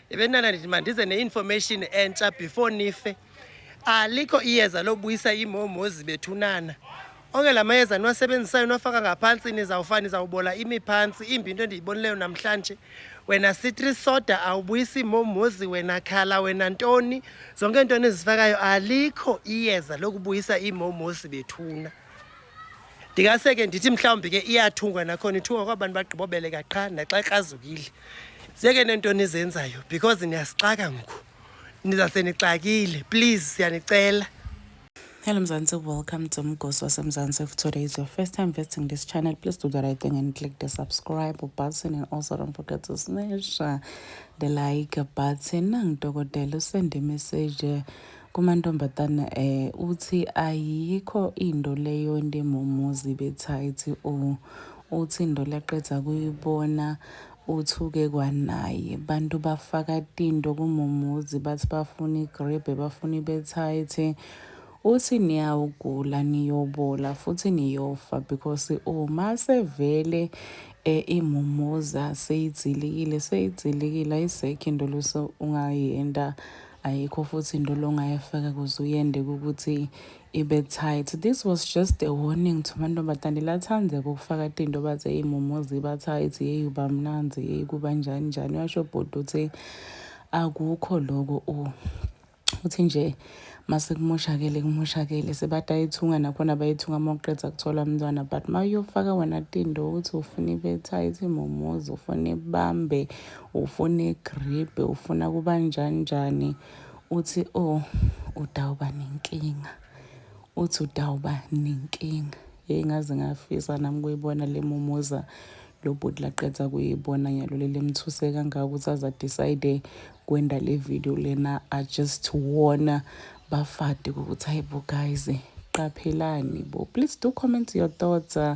ebenana ndithi mandize ne-information entsha before nife alikho iyeza lobuyisa imomozi bethunana onke la mayeza niwasebenzisayo niwafaka ngaphansi nizawufa nizawubola imi phantsi imbi into endiyibonileyo namhlanje wena citri soda awubuyisi momozi wena khala wena ntoni zonke into enizifakayo alikho iyeza lokubuyisa imomozi bethuna ndingase ke ndithi mhlawumbi ke iyathungwa nakhona ithungwa kwabantu bagqibobeleka qha naxa ekrazukile zeke nento nizenzayo because niyasixaka ngoku nizase nixakile please siyanicela Hello Mzansi, welcome to Mgosi waseMzansi. If today is your first time visiting this channel, please do the right thing and click the subscribe button and also don't forget to smash the like button. Nangidokotela usende message Kumantombazane eh uthi ayikho into leyo ndimumuzi bethithi u uthi into laqeda kuyibona uthuke kwanaye bantu bafaka tinto kumumuzi bathi bafuna igrebe bafuna ibethithi uthi niyawugula niyobola futhi niyofa because uma sevele eh, imumuza seyidzilikile seyidzilikile ayisekho into lose ungayenda Ayikho futhi into longayefaka kuze uyende ukuthi ibe tight this was just a warning to mantombazane lathande ukufaka tinto baze iy'mumo ziba tight yeyi uba mnanzi yeyi kuba njani njani washo bhuti uthi akukho loko u uthi nje masekumoshakele kumoshakele sebathi ayithunga nakhona bayithunga uma uqeda kuthola umntwana but uma uyofaka wena tindo ukuthi ufuna ibe-tight imomozi ufuna ibambe ufuna igribhe ufuna kuba njani njani uthi oh udawuba nenkinga uthi udawuba nenkinga hey ngaze ngafisa nami kuyibona le mumuza lo bhuti laqeda kuyibona nyalo leli emthuse kangaka ukuthi aza decide kwenda le video lena i just warn bafade ukuthi hayibo guys qaphelani bo please do comment your thoughts uh,